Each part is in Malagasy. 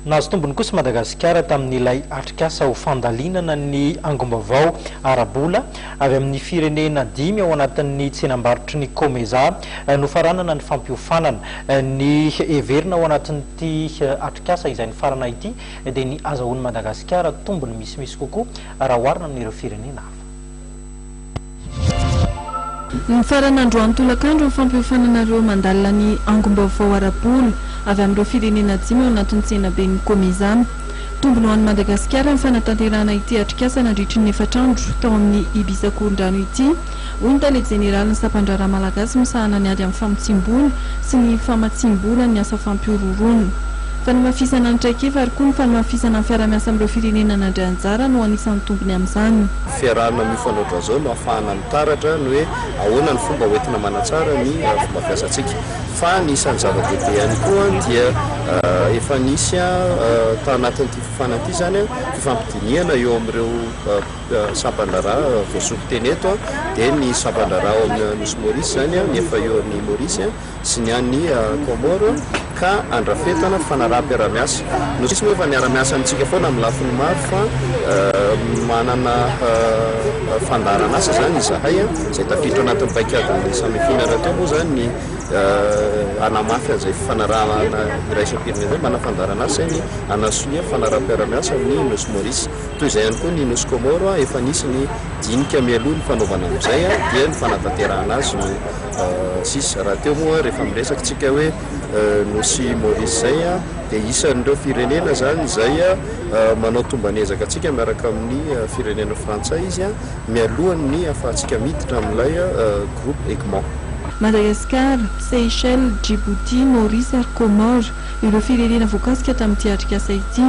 Nahazo tombony kosa Madagasikara tamin'ilay atrikasa ho fandalinana ny angom-baovao ara-bola avy amin'ny firenena dimy ao anatin'ny tsenam-barotry ny Comesa nofaranana ny fampiofanana. Ny heverina ao anatin'ity atrikasa izay nifarana ity dia ny azahoan'i Madagasikara tombony misimisy kokoa raha oharina amin'ireo firenena hafa. Nifarana androany tolakandro ny fampiofanana ireo mandalina ny angom-baovao ara-bola avy amin'ireo firenena dimy ao anatin'ny tsenaben'ny Comizama. Tombony ho an'i Madagasikara ny fanatanterahana ity atrikasa nandritry ny efatra andro tao amin'ny Ibisakorondrano ity, hoy ny tale jeneralin'ny sampandraharaha malagasy misahana ny ady amin'ny famotsiam-bola sy ny famatsiam-bola ny asa fampihorohoroana. Fanamafisana ny traikefa ary koa ny fanamafisana ny fiarahamiasa amin'ireo firenena nandray anjara no anisan'ny tombony amin'izany. Fiarahana amin'io fanaotra izao no ahafahana mitaratra ny hoe ahoana ny fomba hoentina manatsara ny fomba fiasantsika. Fa ny isan'ny zava-dehibe ihany koa dia efa nisy tao anatin'ity fifanana ity izany fifampidinihana eo amin'ireo sampan-draharaha voasokiteny eto dia ny sampan-draharaha ao amin'ny Nosy Maurice izany, ny efa eo amin'ny Maurice, sy ny any Comores ka andrafetana fanaraham-piarahamiasa. No sisiny efa niara-miasa amintsika foana amin'ny lafiny maro fa manana fandaharan'asa izany izahay izay tafiditra anatin'ny paikadin'ny Samefiana rahateo moa izany ny hanamafy an'izay fifanarahana iraisam-pirenena izay. Manana fandaharan'asa izay ny hanasonia fanaraham-piarahamiasa amin'ny Nosy Maurice. Toy izay ihany koa ny Nosy Comores efa nisy ny dinika mialoha ny fanaovana amin'izay dia ny fanatanterahana azy no sisa. Rahateo moa rehefa miresaka isika hoe Nosy Maurice izay dia isan'ireo firenena izany izay manao tomban'ezaka antsika miaraka amin'ny firenena frantsay izy mialohan'ny ahafahantsika miditra amin'ilay groupe Egmont. Madagasikara, Seychelles, Djibouti, Maurice ary Comores ireo firenena voakasika tamin'ity atrikasa ity.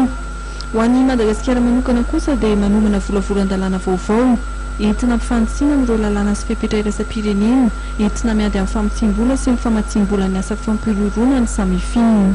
Ho an'i Madagasikara manokana kosa dia manomana volavolan-dalàna vaovao entina ampifanisiana amin'ireo lalàna sy fepetra iraisam-pirenena entina miady amin'ny famotsiam-bola sy ny famatsiam-bolan'ny asa fampihorohoroana ny samifin.